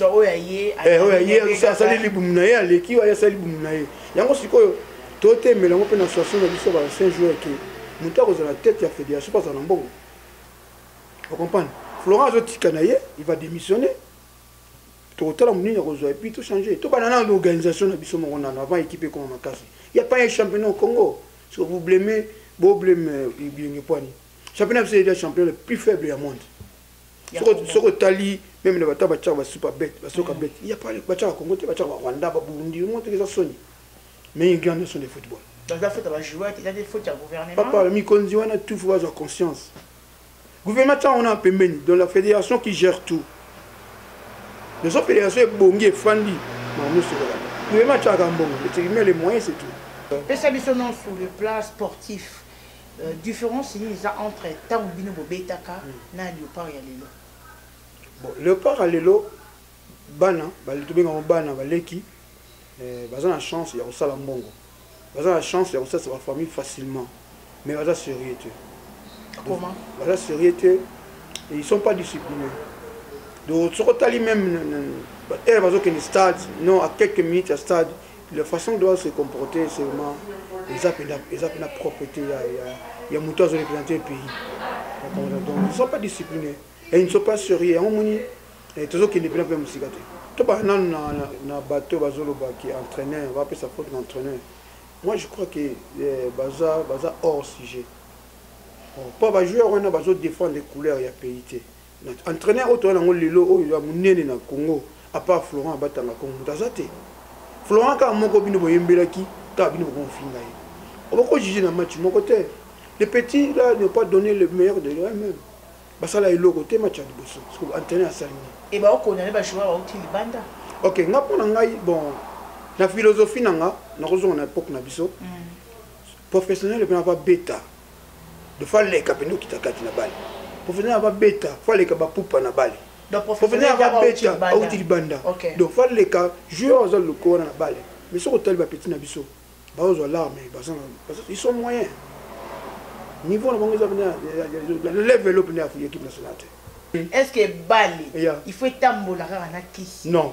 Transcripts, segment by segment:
oyo ya ye eh, oyo ya ye asali libumu na ye aleki oyo asali libumu na ye yango sikoyo totemela yango mpe na association na biso ba saint jour ke moto akozala tete ya fédération mpo azala na mbongo ocomprendre florent azotika na ye il va démissionner tokotala monini akozwa epuis tochange tobanda na organisation na biso moko nano avant équipe ekoma makasi ya pa ye championnat au congo soki vous bleme bobleme euh, bilenge poani championnat biso eza championnat le plus faible ya monde soki otali meme na bata batyaka basupa bete basoka mm. bete ya pale batyaka congo te batyaka barwanda baburundi yango toki eza soni mais ingi wana nyonso nde football papa mikonzi wana tout fo bazwa conscience gouvernement ntango wana pembeni dans la fédération qui gère tout nazo fédération ebongi efandi mamusokola gouvernement atyaka mbongo etekimia le moyen c'est tout pesa biso non sur le plan sportif Euh, difference nini eza entre ntango bino bobetaka hmm. na leopard ya lelo bon leopard ya lelo bana tobengango bana baleki eh, baza na chance ya kosala mbongo baza na chance ya kosalisa bafamille facilement mais baza sérieux te comment baza sérieux te ils sont pas disciplinés donc soki otali même heure bazokende stade non à quelques minutes ya stade La façon doit se comporter seulement eza pena eza pena propreté ya ya ya mutu azo représenter pays donc ils sont pas disciplinés et ils ne sont pas sérieux yango moni eh, tozo kende pena pena musika te to ba na na na bateau bazo loba ki entraîneur va pesa faute d'entraîneur moi je crois que eh, baza baza hors sujet oh, pas ba joueur wana bazo défendre couleur ya pays te Entraîneur oyo toza nango lelo oyo ya munene na Congo à part Florent abatanga Congo moto aza te Florent kaka moko bino boyembelaki kaka bino bokofinga ye oboko juge na match moko te les petits là n'ont pas donné le meilleur de eux-mêmes basala eloko te match ya liboso soki entraîneur asali nini e baokona ne bajoueur bauti libanda ok nga mpo na ngai bon na philosophie na nga nakozonga na époque na biso mm. professionnel epena babeta de fois leka pende okita kati na bale professionnel ava beta fois leka ba pupa na bale professionnel ava beta auti libanda donc fois leka joueur aza lokola na bale mais soki otali ba petit na biso bazozwa larme baza ils sont moyen niveau na bango eza level oyo pende ya équipe nationale te est ce que bale il faut etambola kaka na kisi non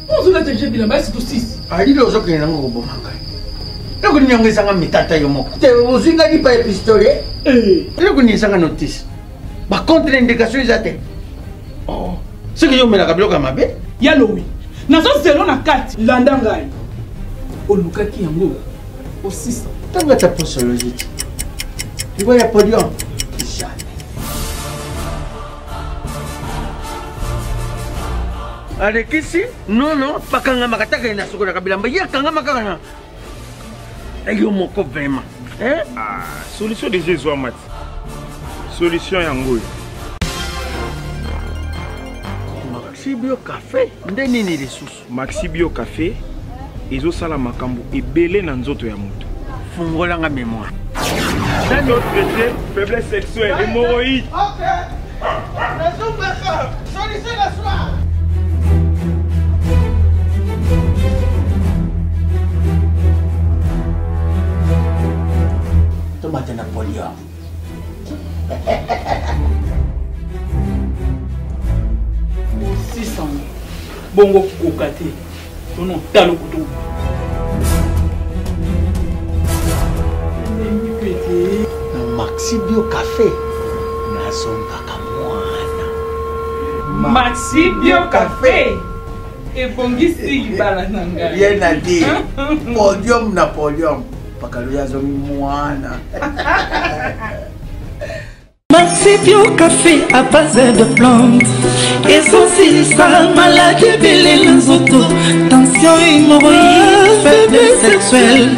ozola dirige bila basi to sisi alilo ozokende nango koboma ngai eloko nini yango ezanga mitata yo moko te ozwi ngai lipa ya pistole eh. eloko nini ezanga notice bacontre indication eza te oh. soki yo omelaka biloko ya mabe ya lowi nazozelo na kati landa ngai olukaki yango osisa ntango ata posoloji te ngo ya podium alekisi nono bakangamaka taka ye na sokolaka bilamba ye akangama kaka na yo moko vraimen eh? ah, solution deja ezwama ti solution yango oyo maxibio cafe nde nini lisusu Maxi Bio Cafe ezosala makambo ebele na nzoto ya moto. Fungola nga memoire. D'un autre côté, faiblesse sexuelle, hémorroïde. Ok. La soupe de solution la soirée. bongo kokoka te tona otala okutu na maxi bio cafe nazongaka mwana maxi bio cafe ebongisi libala na ngai ye na di podium na podium pakalo ya zomi mwana Masipio café à base de plantes ezosilisa maladi ebele na nzoto tension hémorroïde faiblesse sexuelle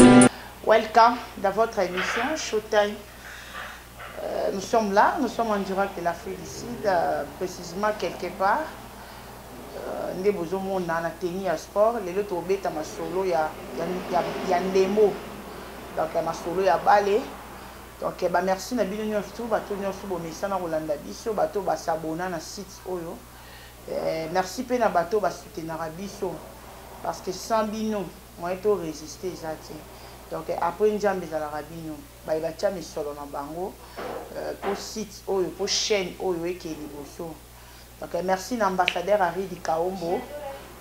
welcome dans votre émission showtime Euh, nous sommes là, nous sommes en direct de l'Afrique du Sud, euh, précisément quelque part. Euh, nde bozomona na teni ya sport lelo tobeta masolo ya, ya, ya, ya ndembo donc ya masolo ya bale donc bamerci na bino nyonso tu bato nyonso bomesana kolanda biso bato basabona na site oyo eh, merci mpe na bato basoutenaka biso parce que sans bino moyen to résister eza te donc après nzambe ezalaka bino baye batia misolo na bango euh, po site oyo po chaîne oyo eke liboso donc euh, merci na ambassadeur aridi kaombo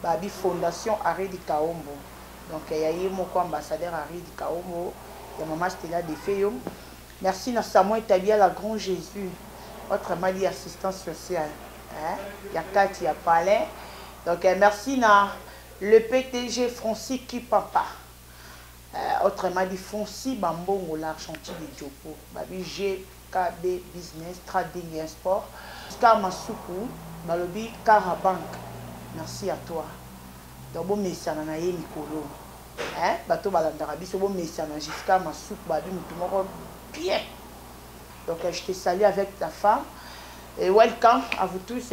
babi fondation aridi kaombo donc euh, ya ye moko ambassadeur aridi kaombo ya mama stela defe yo merci na samuel tabia la grand jésus votre mali assistance sociale hein? ya kati ya palais donc merci na le ptg francis kipapa Eh autrement dit fonci ba mbongo l'argenti de djopo babi GKB business trading un sport star masuku balobi kara bank merci à toi donc bo mesana na ye mikolo eh bato balandaka biso bo mesana jusqu'à masuku babi mutu moko bien donc je te salue avec ta femme et welcome à vous tous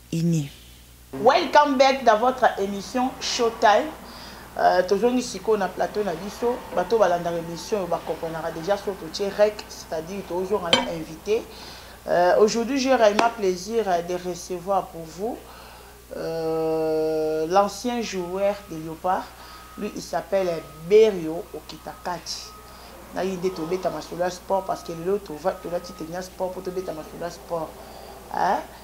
unis. Welcome back dans votre emission show time tozongi sikoyo na plateau na biso bato balandaka emission oyo ba comprenaka dejà so totie rec c'est à dire tozonga na invité euh, aujourd'hui j'ai réellement plaisir de recevoir pour vous euh, l'ancien joueur de Léopard lui il s'appelle Berio Okitakati naye nde tobeta masolo ya sport parce que lelo tolati tenia sport mpo tobeta masolo ya sport hein?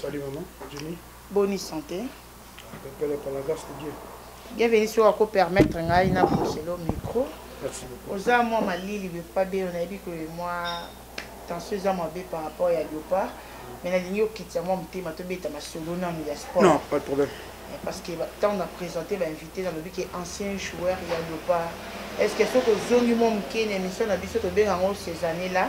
Salut maman, Jimmy. Bonne santé. Pepele par la grâce de Dieu. Bienvenue sur Ako permettre ngai na Bruxelles micro. Merci beaucoup. Oza moi malili be pas be on a dit que moi tension eza moi be par rapport ya Leopard. Mais na lingi okitisa moi mutema to beta masolo na ya sport. Non, pas de problème. Eh, parce que tant on a présenté ba invité na lobi que ancien joueur ya Leopard. Est-ce que ce que zongi moi mukene mission na biso to benga ngo ces années là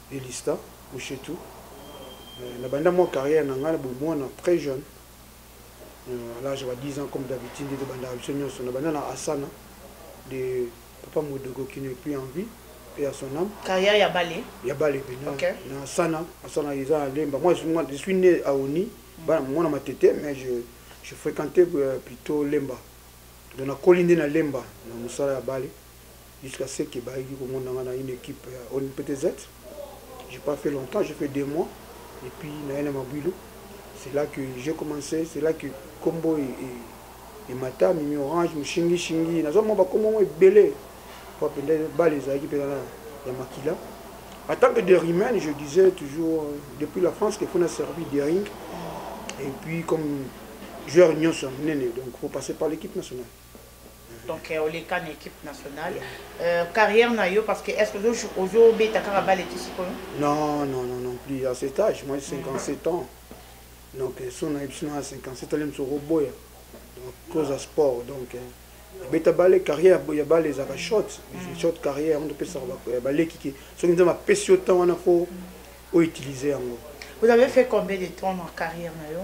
Elista Mushetu, Na banda mua carrière na nga na bomuana très jeune, à l'age ya ba 10 ans comme d'habitude nde tobandaka biso nionso. Na banda na Asana de Papa Modogo qui n'est plus en vie, paix à son ame. Carrière ya Bale? Ya Bale pe na Asana, Asana eza na Lemba. Moi je suis ne à Oni, muana Matete mais je je frequentais plutot Lemba. Donc na koli nde na Lemba na musala ya Bale. jusqu'à ce que bayaki komona nga na une équipe ya ONPTZ j'ai pas fait longtemps j'ai fait deux mois et puis naye na Mabuilu c'est là que j'ai commencé c'est là que kombo e, e, emata mimi orange moshingi shingi naza mwa bakombo yango ebele po mpenza bale ezalaki mpenza na ya makila en tant que derimen je disais toujours euh, depuis la france qu'il faut na servir dering et puis comme joueur nyonso ya monene donc faut passer par l'équipe nationale donc euh, oleka na équipe nationale euh, carrière na yo parce que est ce que ozobeta kaka bale ti sikoyo non non non non plus à cet âge moi 57 ans donc euh, so nayebi sino ya 57 ans lemso okoboya donc cause ya sport donc beta bale carrière ya bale ezalaka short mm. short carrière yango topesaka baleki ke soki nzambe apesi yo temps wana fo outilize yango vous avez fait combien de temps na carrière na yo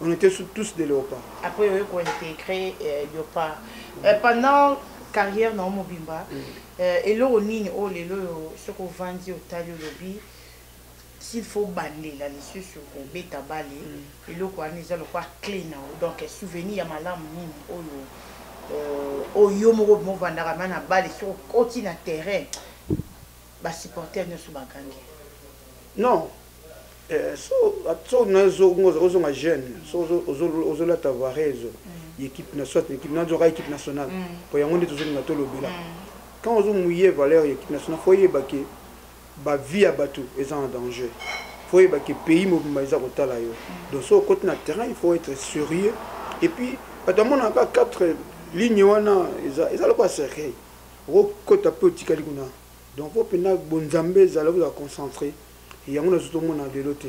On était tous des léopards. Après, on a intégré euh, Léopard. Euh, pendant carrière na mobimba, mm. euh, eloko nini oyo oh, lelo oyo soki ovandi otali olobi s'il faut bandela lisusu kobeta bale mm. eloko wana eza lokwa clé na yo donc souvenir ya malamu nini oyo oh, oyo oh, yo moko movandaka ma na bale soki okoti na terrain basupporter nyonso bagangi non Eh, so so na zo ngo zo nga jeune so zo zo la tavarezo mm. équipe na soit équipe na zo ka équipe nationale mm. po yango ndito zo nga to lobela mm. quand zo mouiller valeur équipe nationale faut yeba que ba vie ya batu eza en danger faut yeba que pays mobimba eza kotala yo donc so côté na terrain il faut être sérieux et puis bato amona ka quatre ligne wana eza eza lokola cercueil okokota mpe otikali kuna donc mpo mpenza bonzambe ezala kozala concentré Yango na zoto mona velo te.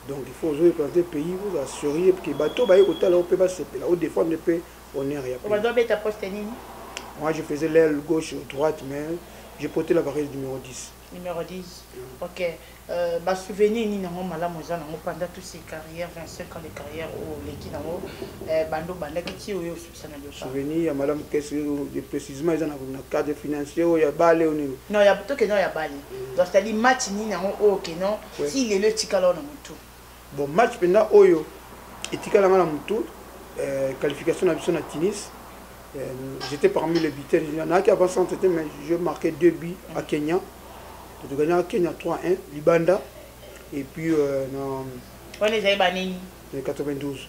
Donc il faut ozo représenter pays vous a serieux que bateau baye ko tala pe ba sepela au défendre pe honneur ya pays. Bazo beta poste nini? Moi je faisais l'aile gauche ou droite mais je portais la variété numéro 10. Numéro 10. Mm. OK. Euh, ba souvenir nini nango malamu eza nango pendant toutes ces carrières 25 ans de carrière au leki nango euh, bando bandaki ti oyo souvenir ya madame kese de précisement eza na cadre financier oyo ya bale oyo nini non ya to keno ya bale mm. donc c'est-à-dire match nini yango oyo keno ti lelo etikala na mutu bon match mpenza oyo etikala nga na mutu euh, qualification na biso na tunis euh, j'étais parmi les buteurs nayaki avant centre te mais je marqué deux buts à mm. kenya totogagnaka kenya 3 1 libanda et puis euh, na wana ezali banini 92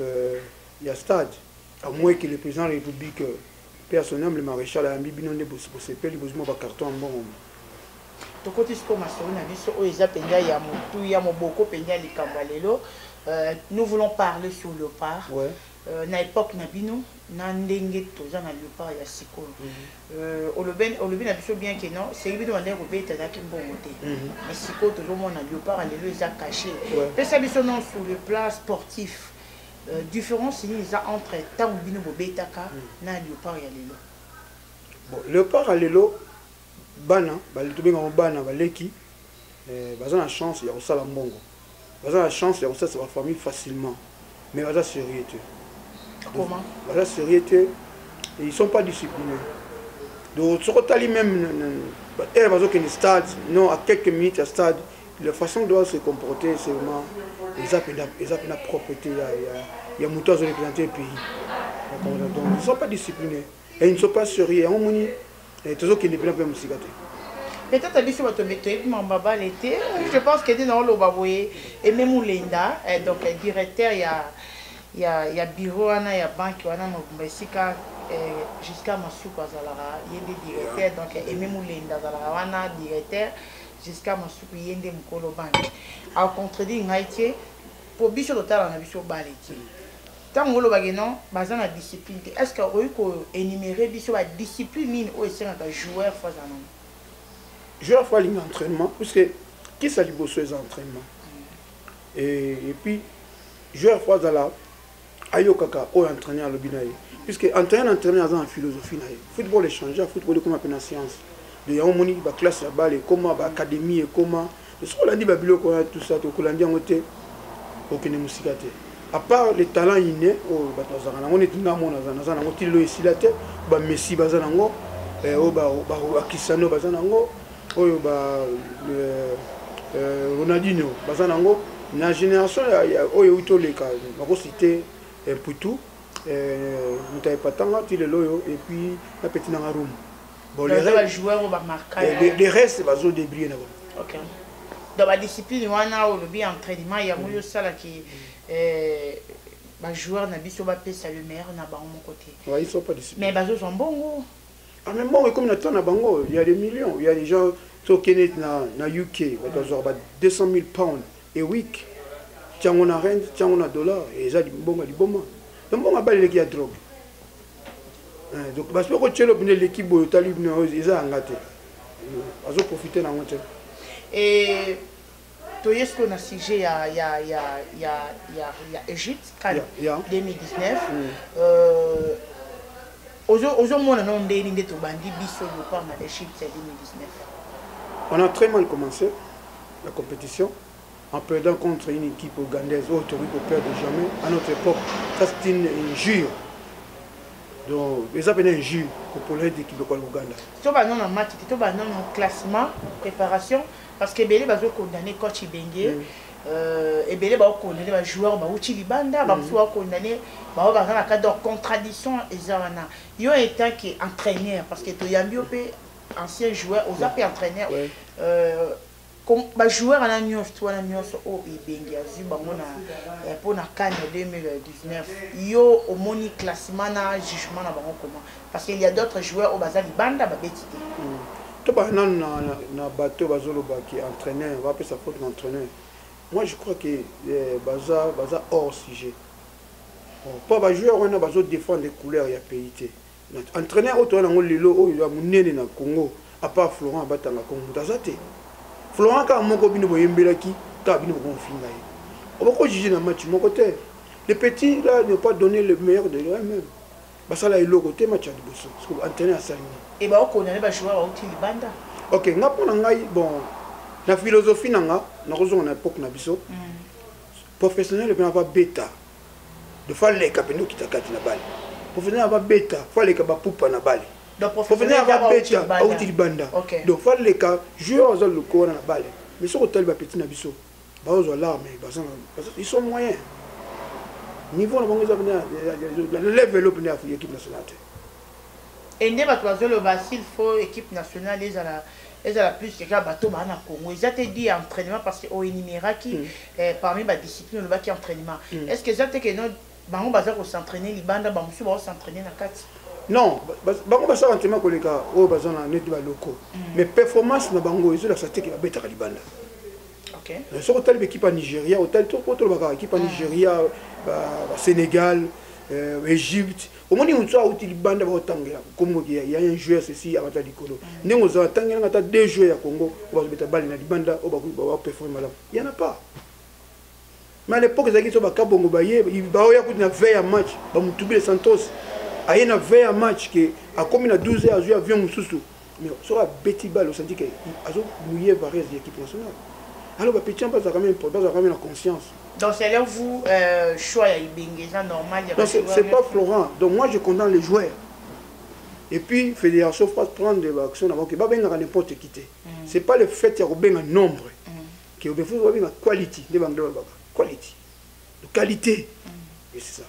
euh, ya stade à moins que le président de la république euh, mpe ya son humble maréchal ayambi bino nde bosepeli bozwi mwa bacarton ya mbongo tokoti sikoyo masolo na biso oyo eza mpenza ya motuya moboko mpenza ya likambo ya lelo euh, nous voulons parler sur le part ouais. euh, na époque na bino na ndenge toza na leopard ya sikoyo euh, olobi, olobi na biso bien ke non soki bino bandaki kobeta ezalaki mbongo te mhm. mais sikoyo tozomona leopard lelo eza cache pesa biso non sur le plan sportif euh, différence nini eza entre ntango bino bobetaka mhm. na leopard ya lelo bon leopard ya lelo bana tobengaka bana baleki Eh, baza na chance ya kosala mbongo baza na chance ya kosalisa bafamille facilement mais baza sérieux te comment baza sérieux te ils sont pas disciplinés donc soki otali même heure bazokende stade non à quelques minutes ya stade la façon doit se comporter c'est vraiment eza mpenza propreté ya moto azo représente pays donc ils sont pas disciplinés Et ils ne sont pas serieux. Yango moni eh, tozo kende pena pe musika te. Peut-être à biso bato toyebi mamba bale te. Je pense que dina oloba boye Aimé Mulenda eh, donc eh, directeur ya ya ya bureau wana ya banque wana mobimba esika eh, jusqu'à Masuku azalaka ye nde directeur donc eh, Aimé Mulenda azalaka wana directeur jusqu'à Masuku ye nde mokolo banque. Au contredire ngai te po biso totala na biso bale te. Tango oloba ke non baza na discipline te est ce que okoki ko enumerer biso ba discipline nini oyo esengaka joueur faut azala nango? Joueur faut alinga entrainement puisque kisa liboso eza entrainement et, et puis joueur faut azala ayokaka oyo entraîneur alobi na ye puisque entraîneur entraîneur aza na philosophie na ye football echange football ekoma mpe na science de yango omoni baclasse ya bale ekoma baacadémie ekoma mm. soki olandi babiloko wana tout ça tokolandi yango te okende mosika te à part le talent inné oyo bato bazalaka nango neti nga mona naza nango ti lelo esila te bamessi baza nango eh, oyo bakisano baza nango oyo ba eh, eh, ronaldino baza nango na génération oyo euti oleka bakosite mputu moto ya epatanga ti lelo oyo epuis na peti nanga rumu bon les ba joueurs au marquage les, les restes bazo débriller na bango OK dans ba discipline wana au lobby entraînement ya moyo sala ki euh ba joueurs na biso ba pesa le meilleur na bango mon côté ouais ils sont pas discipline mais bazo zo mbongo ah mais mbongo comme na tona bango il y a des millions il y a des gens to kenet na na UK ba zo ba 200 000 pounds et week tiango na rent tiango na dollar et ça mbongo liboma mbongo abaleleki ya drogue Eh, donc basi boko tielo bino eleki boye otali bino eza yanga te azoprofite nango te eh, toye sikoyo na sujet ya, ya, ya, ya, ya, ya egypte kan yeah, yeah. 2019 mm. euh, ozomona nao ndeni nde tobandi biso lopanga egypte ya 2019 on a très mal commencé la compétition en perdant contre une équipe ougandaise oyo tokoki koperdre jamais à notre époque ça c'est une injure donc eza mpena injure kopona ete équipe ekwa l'ouganda toba nono match te toba nono classement préparation parce que ebele bazokondane coach ibenge mm. euh, ebele baokondane bajoueur bauti libanda bamosusu mm. baokondane bao baza na cadre contradiction eza wana yo etant que entraîneur parce que toyambi yo mpe ancien joueur oza mpe entraîneur euh, Ba joueurs wana nionst wana nionso oyo Ibenge azui bango na eh, po na CAN ya 2019 yo omoni classement na jugement na bango comment? Parce qu'il y a d'autres joueurs oyo baza libanda babeti te. Mm. To ba nanu na, na, na bateau bazoloba ki entraîneur bapesa faute na entraîneur. Moi je crois que eh, baza baza hors sujet. Po ba joueurs wana bazo défendre couleur ya pays te. entraîneur oyo toza nango lelo oyo ya monene na congo apart florent abatanga congo moto aza te florent kaka moko bino boyembelaki kaka bino bokomofinga ye obokojuge na match moko te le petit là ne pas donner le meilleur de lui-même basala eloko te match ya liboso soki entraîneur asali nini e baokona ne bajoueur bauti libanda ok nga mpo na ngai bon na philosophie na nga nakozonga na époque na biso mm. professionnel mpe na babeta de fois leka pende okita kati na bale professionnel ava beta fois leka ba pupa na bale professionnel ava beta auti libanda donc fois leka joueur aza lokola na bale mais soki otali ba petit na biso bazwa larme baza ils sont moyens niveau na bango eza pena level oyo pena ya équipe nationale te Et nde batu bazo loba s'il faut equipe nationale ezala ezala plus que kaka bato ba na Congo eza te dit entrainement parce que o enumeraki mm. eh, parmi ba discipline olobaki entrainement mm. est-ce que eza te que non bango baza ko s'entraîner libanda ba musu ba s'entraîner na kati non bango basala entraînement koleka oyo baza na neti baloko mm. mais performance na bango ezolakisa te ke babetaka libanda okay. soki otali baekipe ya nigeria otali tolobaka ekipe ya nigeria basénégal euh, égypte omoni moto auti libanda baotangela kombo ya ya un joueur ceci abata likolo ndenge ozala tangela nga ata deux joueurs ya Congo oyo bazobeta bale na libanda oyo bakoki ba performer malamu ya na pas mais à l'époque ezalaki so bakabongo baye baoya kutu na 20 ya match bamutubile santos aye na 20 ya match ke akomi na 12 heures azwi avion mosusu Mais soki abeti balle osanti ke azo mouiller varese ya equipe nationale. Alors ba petits yango bazalaka meme bazalaka meme na conscience. Donc c'est alors vous euh, choix ya Ibenge eza normal ya ba joueurs. C'est pas Florent. Donc moi je condamne les joueurs. Et puis fédération faut prendre des actions avant que ba benga n'importe qui te. Mm. C'est pas le fait ya ko benga nombre. Mm. Que il faut ba benga quality, nde ba ngela ba quality. De qualité. Mm. Et c'est ça.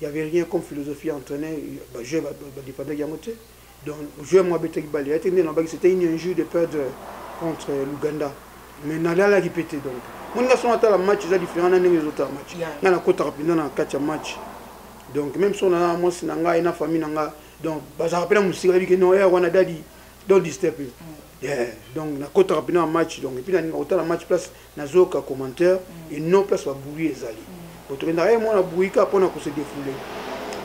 il y avait rien comme philosophie à entraîner ba jeu ba ba dépendait yango te donc joueur moi betaki balle ya te nde na baki c'était une injure de perdre contre l'Ouganda mais na lala ki pete donc mon nga son atala match eza différent na ndenge ezo tala match nga na kota rapidement na kati ya match donc même son na moi si na nga et na famille na nga donc ba za rappeler musika bi que non ya wana dadi don't disturb him mm. yeah donc na kota rapidement match donc et puis na ninga otala match place nazoyoka commentaire mm. et non place babouyi ezali mm. botokendaka ye mwana bouyi kaka mpona kose defoule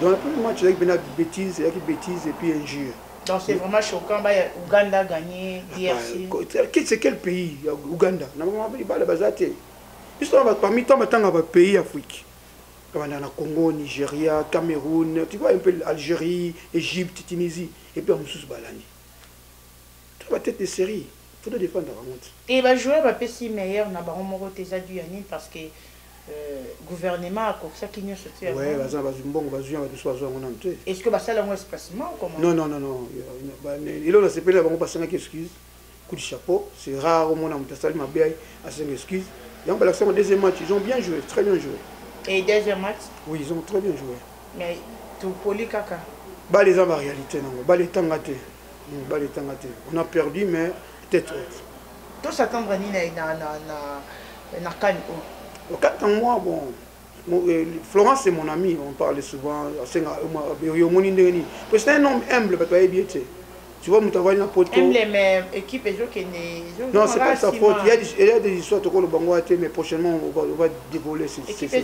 donc la première match ezalaki mpena bétise ezalaki bétise et puis injure Donc c'est vraiment choquant, bah, Ouganda a gagné, DRC. C'est quel pays Ouganda Parmi tant de pays africains. Dans Congo, Nigeria, Cameroun, tu vois un peu l'Algérie, Égypte, Tunisie, et puis en Moussous Balani. Toi la tete de serie faut to defendre bango ti. Te ba joueurs ba pesi meilleur na bango moko te eza du ya nini parce que gouvernement akokisaki nionso te yango. Ouais baza na bazwi mbongo bazwi ya batu so bazwa yango nanu te. Est ce que basali yango espacement ou comment? Non non non non eloko na sepeli na bango basengaki excuse coup de chapeau c'est rare omona mutu asali mabe asenga excuse yango balakisa yango deuxième match ils ont bien joué très bien joué. Et deuxième match? Oui ils ont très bien joué. Mais topoli kaka. Bale eza ba réalité nango bale etanga te. mibali etanga te on a perdu mais peut-être autre to s'attendre ni na na na na na kani o oh. okata moi bon euh, Florence c'est mon ami on parle souvent asenga euh, yo moni ndenge nini que c'est un homme humble bato bayebi ye te tu vois moto avandi na poto non c'est pas sa faute il y a des, il y a des histoires tokolo bango te mais prochainement on va, on va dévoiler ces, ces, ces...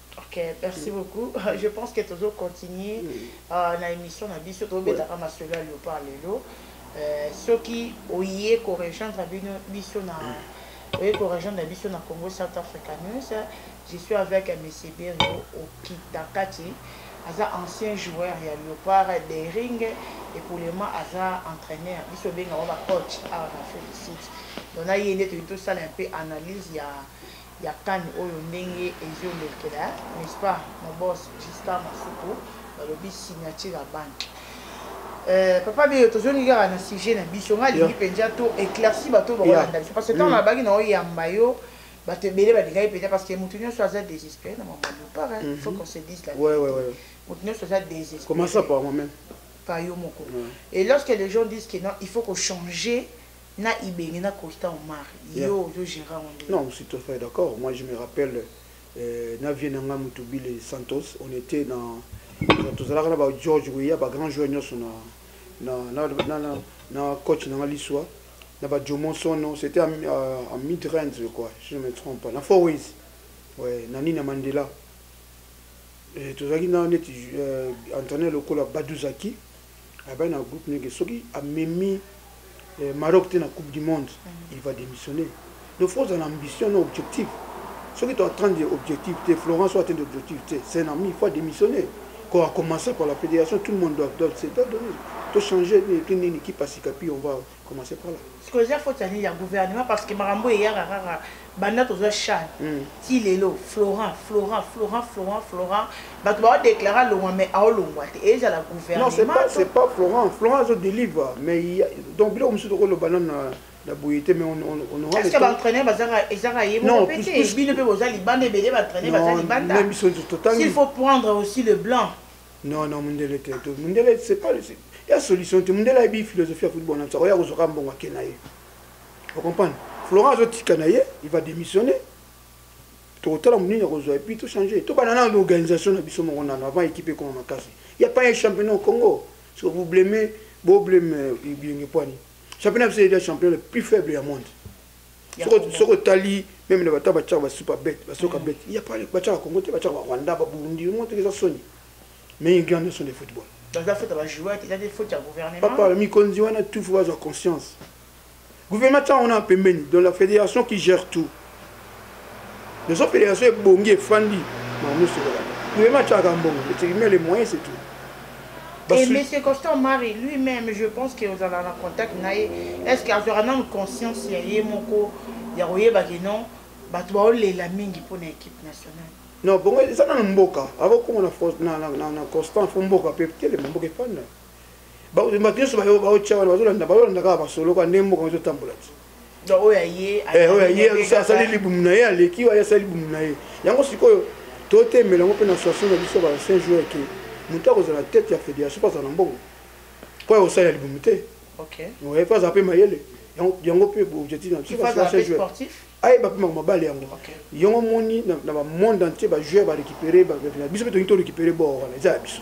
Ok, merci beaucoup. Je pense que tozo continuer euh, na émission na biso tobetaka masolo ya leopard lelo. Euh, soki oye ko rejoindre bino biso na oye ko rejoindre biso na Congo South Africa News, je suis avec euh, monsieur Berio Okitakati. aza ancien joueur ya leopard de ring epoulema aza entraîneur biso obenga ngo bacoach awa na félicite donc na ye nde toyei tosala un peu analyse ya Ya kani oyo ndenge ezo lekela n'est ce pas mon boss Gistar Mafuku balobi signature ya banque Euh, papa biyo tozongi kaka na sujet na biso ngai alingi mpenza to éclairci bato bakolanda biso parce que ntango nabaki na oyamba yo bato ebele balingaki mpenza parce que moto nyonso aza désespéré na mama lupar il faut qu'on se dise la moto nyonso aza désespéré par yo moko et lorsque les gens disent que non il faut qu'on changer na ibenge na costa omar yeah. yo ozo gere yango nde non si tout fait d'accord moi je me rappelle euh, na vie na nga mutubile santos on était na tozalaka na ba george weya ba grand joueur nyonso na na, na, na, na, na coach na nga liswa na ba jomo sono c'était en, euh, en mid range je crois si je me trompe pas na four ways ouais, na nina mandela tozalaki na neti euh, entraîneur lokola baduzaki Abaya na groupe nege soki amemi eh, Maroc te na coupe du monde mm. il va démissionner donc faut ozala na ambition na objectif soki to atteindre objectif te Florence o atteindre objectif te c'est un ami il faut démissionner quand a commencé par la fédération tout le monde doit doit se doit donner to changer ni nini qui passe capi on va commencer par là sikoyo eza faute ya nini ya gouvernement parce que makambo eyaka kaka banda tozwa chane hmm. ti lelo florent florent florent florent florent bato baodeklare alongwa mais aolongwa te ezala gouvernementcest pas florent florent azo délivre mais donc biloko mosusu tokoloba nano na boye te mais onoaceque baentraîneur bazaka ezaka ye moko mpe te bino mpe boza libanda ebele baentraîneur baza libanda il faut prendre aussi le blanc Non, non, Mundele te. Mundele, c'est pas le. Il y a solution. Tu Mundele a une philosophie à football. On sait, on sait, on bon à Kenaï. Vous comprenez Florent Azoti Kanaï, il va démissionner. tokotala monene ya kozwa epuis tochange tobanda nano organisation na biso moko nano avant équipe ekoma makasi ya pas un championnat au congo so vous bleme bobleme euh, bilenge poani championnat biso eza championnat le plus faible ya monde soki otali meme na bata batyaka basupa bete basoka mm. bete ya pale batyaka congo te batyaka barwanda baburundi yango toki eza soni mais ingi wana nyonso nde football papa mikonzi wana tout fo bazwa conscience gouvernement ntango wana pembeni dans la fédération qui gère tout Nosopela yaso ebongi efandi mamu sokola. Gouvernement chaka mbongo, le tribunal les moyens c'est tout. Et M. Constant Marie lui-même, je pense que vous avez en contact naye. Est-ce que azora nanu conscience ya ye moko ya koyeba que non bato baolela mingi mpo na équipe nationale non bongo eza nanu mboka akokoma na constant fo mboka mpe telema mboka efanda bato nyonso baotya wana bazolanda kaka basolo kaka nde mboka ezotambola ti oyo ya ye eh, oyo ya ye asali libumu na ye aleki oyo asali libumu na ye yango sikoyo totemela yango mpe na association na biso ba saint jour ke moto akozala tete ya fédération mpo azala na mbongo mpo ya kosalela libumu te oye mpo azala mpe mayele yango mpe objectif na biso ayeba mpe mabale yango yango omoni na bamonde entier bajoueur barécupere biso mpe tolingi torécupere bor wana eza ya biso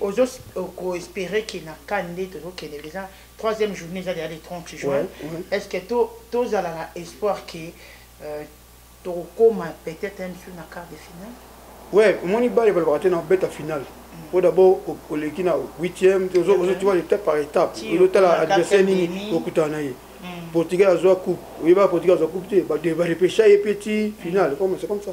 ozo ko espere ke na can nde tozo kende deja troisième journee eza deja le 30 juin est ce que tozala na espoir ke euh, tokokoma peut-être un jour na quart de finale ouais omoni bale balobaka te na obeta finale po mm. d'abord oleki na huitième ozotiwa étape par étape ozotala adversaire nini okutana na ye mm. portugais azwa coupe oyebaka portugais azwa coupe te badepecha ye pe ti finale comme c'est comme ça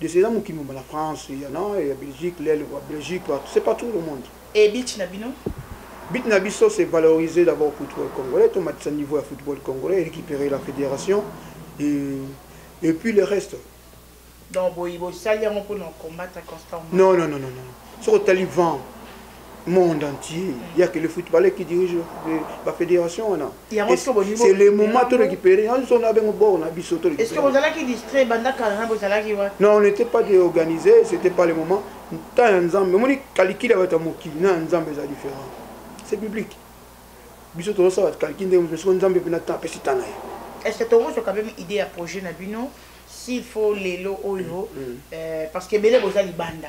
Des eza mokili mobimba na France, ya na ya Belgique, lel quoi, Belgique quoi, c'est pas tout le monde. Et beach na bino? But na biso c'est valoriser d'abord football congolais, to matisa niveau ya football congolais, récupérer la fédération et et puis le reste. Donc boyi bosali yango pour na combattre constamment. Non non non non non. Soko tali vent monde entier ya que le footballeur qui dirige ba fédération wana c'est le moment to récupérer on son avec bord na biso to est-ce que vous allez qui distrait banda kala na vous allez wa non on n'était pas organisé c'était pas le moment temps ya nzambe moni calcul ya bato ya mokili na nzambe eza différent c'est biblique biso tozosala calcul ndenge mosusu soko nzambe mpena temps apesi temps na ye est-ce que tokozwa quand même idée ya projet na bino s'il faut lelo oyo mm, mm. euh, parce que ebele boza libanda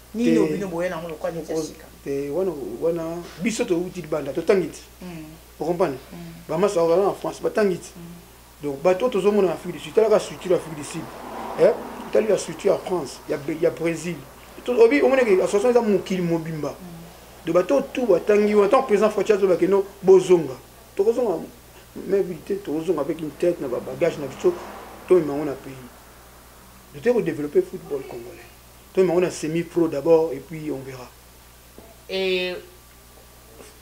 nini oyo bino boya nango lokola neti ya sika te wana wana biso towuti libanda totangi ti hmm. okompane hmm. bamasi bakozala na france batangi ti hmm. donc bato oyo tozomona na afrique du sud talaka structure ya afrique du sud eh, tali ya structure ya france ya brésil obi omoneke association eza mokili mobimba donc bato oyo tu batangi wana ntango président fati azolobake no bozonga tokozonga mabilité tokozonga avec une tête na babagage na biso tomema yango na pays totoki kodeveloppe football congolais Toyema ngo na semi pro d'abord et puis on verra. Et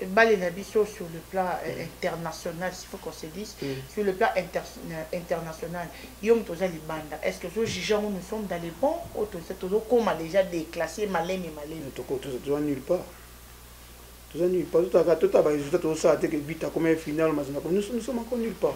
balle na biso sur le plan euh, international s'il faut qu'on se dise mm. sur le plan inter euh, international yo moto oza libanda est ce que ozo juge yango nous sommes dans les bons oyo tozokoma déjà déclassé malemi malemi toza nulle part toza nulle part totaka tota baresultat tozosala te ke but akoma ye final mazinga nous sommes encore nulle part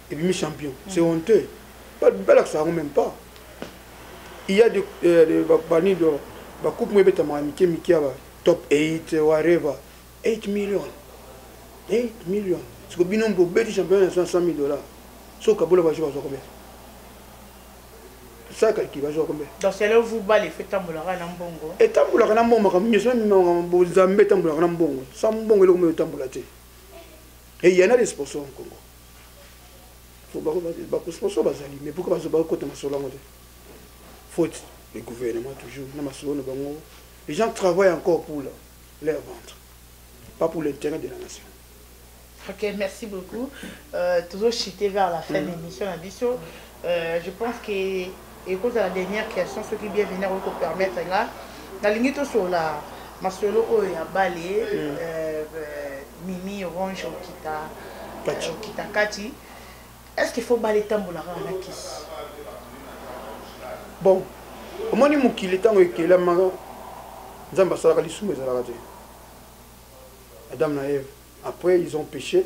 ebimi champion c'est mm. honteux balakisa yango même pas il y a de euh, bani do bakupe moye ebetamaka mike mike ya ba top 8 wareva 8 million 8 million siko bino bobeti champion ya 100 000 dollars soki kabola bajour azwa combien ça calcule bazwa combien donc c'est là où vous bal effet tambolaka na mbongo etambolaka na mbongo makambo nyonso mimemaka bozambe etambolaka na mbongo sa mbongo eloko moyo etambola te eyana de sponsor en congo bakosponsor bazali mais pourquoi bazo bakota masolo yango te faute le gouvernement toujours na masolo na bango les gens travaillent encore pour leur, leur ventre pas pour l'intérêt de la nation Ok, merci beaucoup. Euh, toujours chité vers la fin mm. de l'émission, la biso. Euh, je pense que ekozala dernière question soki bienvenir oyo ko permettre nga nalingi tosolola masolo oyo ya bale mm. euh, euh, mimi orange okita euh, okita kati est ce qu'il faut bale etambolaka na kisi bon omoni mokili ntango ekelamaka nzambe asalaka lisumu ezalaka te adam na eve après ils ont péché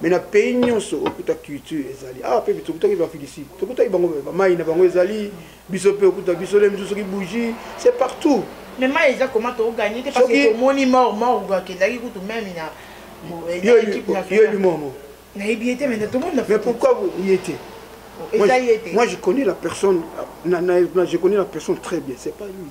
mais na pays nyonso okuta culture ezali awa ah, mpe tokutaki bafilisi tokutaki bango bamai na bango ezali biso mpe okuta biso le mosusu soki bougie c'est partout mais mai eza koma toganye te parce que tomoni mor mor akendaki kutu meme na yoyebi momo nayebi ye te mais tomoni mais pourquoi ye te Moi, je connais la personne, je connais la personne très bien, c'est pas lui.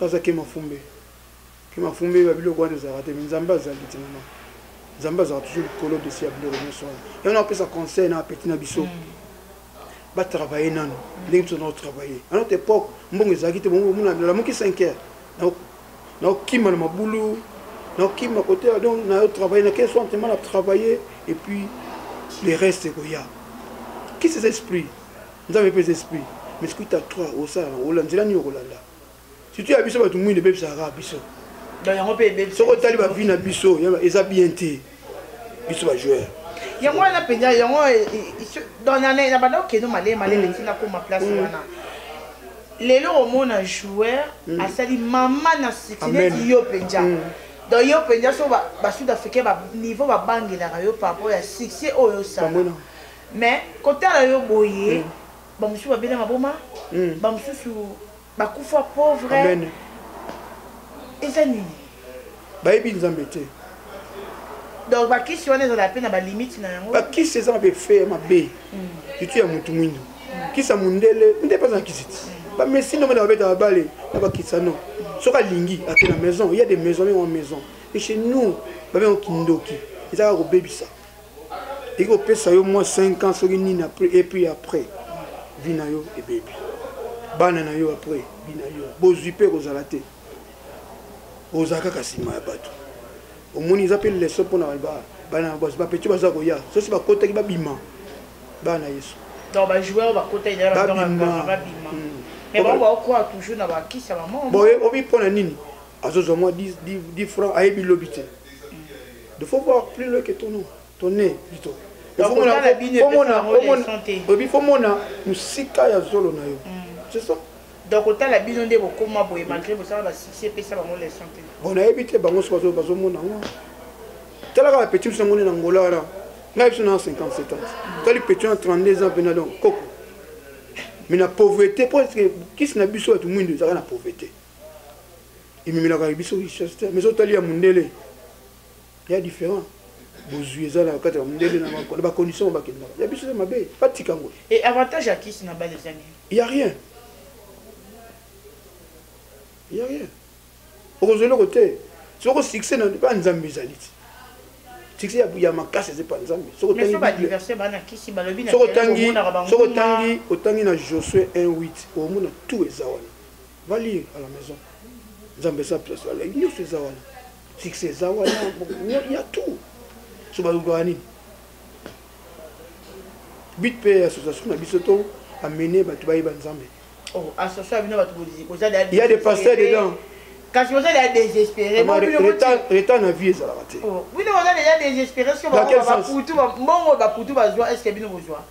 Baza kemafumbe kemafumbe ba biloko wana ezalaka te mais nzambe azali ti mama nzambe azalaka toujours likolo desi ya biloko nyonso wana yango nakopesa conseil na apeti na biso mm. batravaille nano mm. ndenge biso naotravaille à notre époque mbongo ezalaki te bongo omona nalamuki 5 heures naokima na mabulu naokima kote donc naotravaille na quel soin tema na travaille et puis le reste ekoya kisi eza esprit Nzambe pesa esprit. Mais sikoyo ta 3 osala na ola nzela nini okolanda? Surtout ya biso bato mwindu ebebisaka kaka biso. Donc yango pe ebebisa. Soko otali ba vie na biso eza bien te. Biso ba joueurs. yango wana mpenza yango na banda okende malele malele ntina mm. akoma place mm. wana lelo omona joueur mm. asali mama na sitineti yo mpenza donc yo mpenza so basud africain niveau babangelaka yo par rapport ya succès oyo osala Mais kotala yo boye ba mususu babeli maboma ba mususu bakufa pauvre eza nini bayebi nzambe te donc bakisi wana ezala mpe na balimite na yango bakisi eza mabe fe ya mabe itu ya motu mwindo kisa mondele nde mpe azala kisi ti bamesi ndombe na babeta babale na bakisano soki alingi ake na maison ya de maison yango maison e chez nous babengo kindoki eza kaka kobebisa eko pesa yo mwa 5 ans soki nini après et puis après vie na yo ebebi bana na yo après vie na yo bozwi mpe ekozala te ozala kaka nsima ya bato omoni eza mpe leso mpo na bana basi bapeti baza koya sosi bakotaki babima bana yesu babima obi mpo na nini azozwa mwa 10 francs ayebi lobi te de faut voir plus loin que ton nom ton nez plutôt oyebi fo mona mosika ya zolo na yo mm. c'est ça donc otala bino nde bokoma boye malgré bosala basuccès epesa bango leçon te bon nayebi te bango so bazomona yango talaka bapeti biso yango nde na ngola wana ngai biso na 57 ans tali peti na 32 ans mpena donc koko mais na pauvreté mpo kisi na biso bato mwindo ezalaka na pauvreté ememelaka biso richesse te mais sotali ya mundele ya différent bozwi eza na kati ya mundele na bacondition oyo bakendaka ya biso eza mabe batika yango e avantage ya kisi na bale eza nini ya rien ya rien okozwa eloko te soko succès na mpa nzambe ezali ti succès ya makasi eza mpa nzambe soki otangi na josue 18 omona tout eza wana va lire à la maison nzambe eza place ala nyonso eza wana succès eza wana ya tout so balukaka nini but mpe association na biso to amene bato bayeba nzambe oh, association bino bato boza ya de pasteur dedans kasi oza deja désespéré retard na vie ezalaka te oh, bino boza deja désespéré soki bakutu mbongo bakutu bazwa est ce que bino bozwa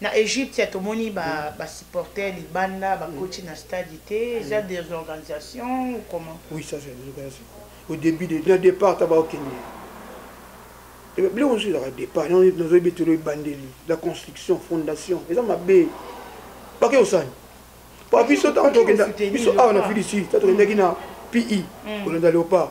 Na Egypte tomoni ba supporters libanda ba koti na stade te eza des organisations ou comment? Oui ça c'est des organisations. Au début de na départ ta ba okende. Et eh biloko nsu ezaka départ na zo betelo ebandeli la construction fondation eza mabe bake osani pa biso ntango tokenda biso awa na fidi sud ta tokendaki na pi kolanda léopard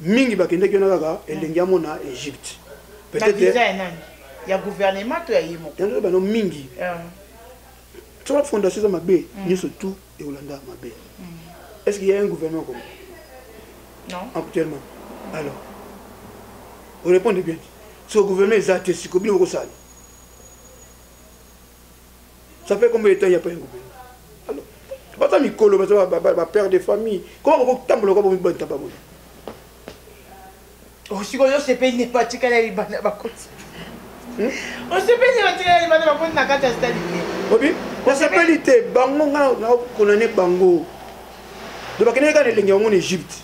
mingi bakendeki wana kaka elengi amo na egypte ya gouvernement to ya ye moko yango bano mingi ah. soki bafondation eza mabe mm. nyonso tout ekolanda mabe mm. est ce que ya un gouvernement comme actuellement alors orépondre bien so gouvernement eza te siko bino bokosala ça fait combien de temps ya pa yango alors baza mikolo baza ba père de famille comment boko tambola kwa bomi banta ba boye osikoyo oh, osepeli ne patikala libanda bakoti hmm? osepeli ne patikala libanda bakoti na kati ya stade te obi osepeli te bango nga na konane bango donc bakendeki kaka na elenge yango na egypte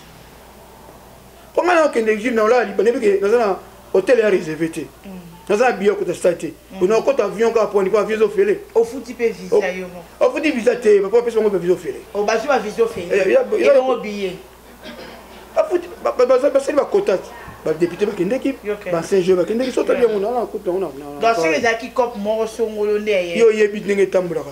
mpo ngai nakokende exile naolala liba nayebi ke naza na hotel ya reserve te mm. naza na biye okota stade te mm. ona okota avion kaka poni mpo avion ezofele ofuti mpe visa yo ofuti visa te bapo bapesi bango mpe visa ofele oh, bazwi bavisa ofeleongo biye basali bakota te badepute bakendeki bancien jeu bakendeki so otali yango naana kutu yango yo oyebi ndenge etambolaka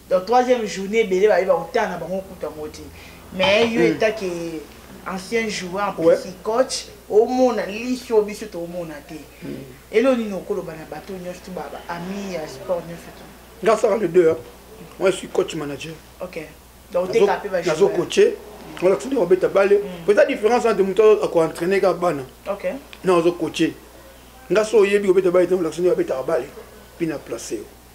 Donc troisième journée ebele baye bautana na bango kutu yango te mais yo etat ke ancien joueur mpesi coach omona liso biso toomona te elo nini okoloba na bato nyonso to baami ya sport nyonso to nga asaka le deux moi je suis coach manager okay. nazo coache olakisa nde obeta bale po eza différence entre moto akoentraine kaka bana na ozo coache nga so oyebi obeta bale te olakisa nde abetaka bale mpe na place yo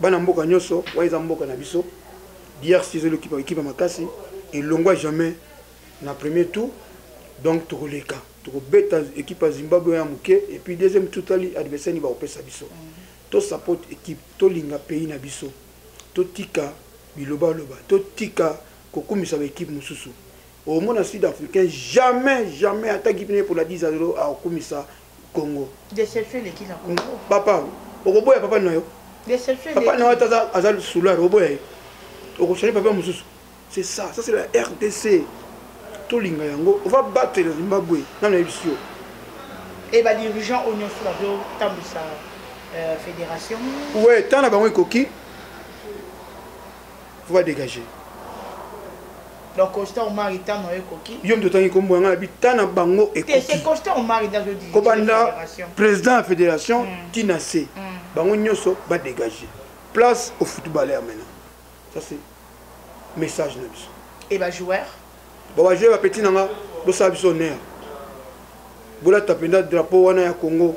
bana mboka nyonso wana eza mboka na biso drc ezali ekipa ekipa makasi elongwa jamais na premier tour donc tokoleka tokobeta ekipe ya zimbabwe ya moke epuis deuxième tour tali adversaire nini bakopesa biso tosapote ekipe tolinga pays na biso totika bilobaloba totika kokumisa baekipe mosusu omona sud africain jamais jamais ata gipine mpona 10 akokumisa Congo. Deception eleki na Congo. Papa, okoboya papa na yo. Deception eleki. Papa na yo aza aza soulard, oboya ye. Okochanger papa mosusu. C'est ça, ça c'est la RDC. Tolinga yango, on va battre le Zimbabwe. Nana yebisi yo. Et ba dirigeants au nyonso bazo tambisa euh, fédération. Ouais, tana bango ekoki. faut ba dégager donc constant omari temps na yo ekoki yo moto otangi kombo yanga nabi temps na bango ekokikobanda président ya fédération mm. ti na se mm. bango nyonso badégage place au footballeur maintenant ça c'est message na biso e bajoueur ba bajoueur bapeti nanga bosala biso honneur bolata mpenza drapeau wana ya congo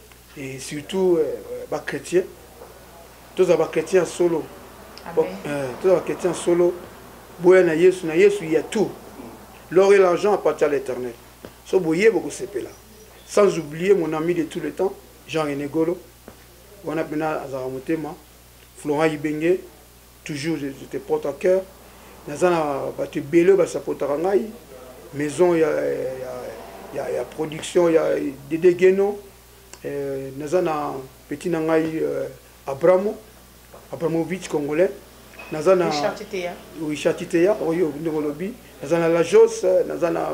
et surtout euh, ba chrétiens tozala ba chrétiens solo euh, tozala ba chrétiens solo boya na yesu na yesu ya tout l'or et l'argent appartient à l'éternel so boye bokosepela sans oublier mon ami de tout le temps jean rené golo wana mpena azalaka motema florent ibenge Toujours je, je te porte à cœur. Naza na bato ebele oyo basapotaka ngai maison ya, ya, ya, ya production ya Dede Geno eh, naza na petit na ngai eh, Abramo Abramovich congolais naza na Richard Titeya oyo ndenge olobi naza na Lajos eh, naza na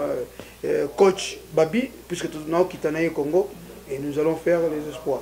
eh, coach Babi puisque naokita na ye Congo et nous allons faire les espoirs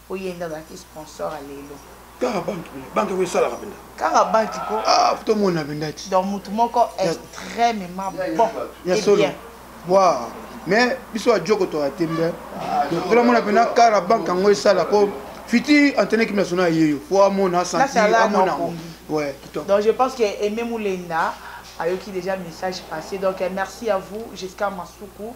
oyenda ozalaki sponsor ya lelo kaka banki banki yango esalaka mpenza kaka banki ko ah, tomona mpenza ti donc motu moko extrêmement bon ya solo wa mais biso ya joko toya te mbe tolamona mpenza kara banki yango esala mpo fiti antene ekipe national aye yo mpo amona asanti amona yango ouais kitoko donc je pense que aime mulenda ayoki déjà message passé donc merci à vous jusqu'à masuku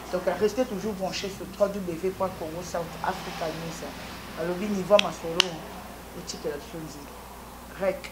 Donc restez toujours branché sur www.congo south africa news. Alobi niveau masolo otikela biso nzela. Rec.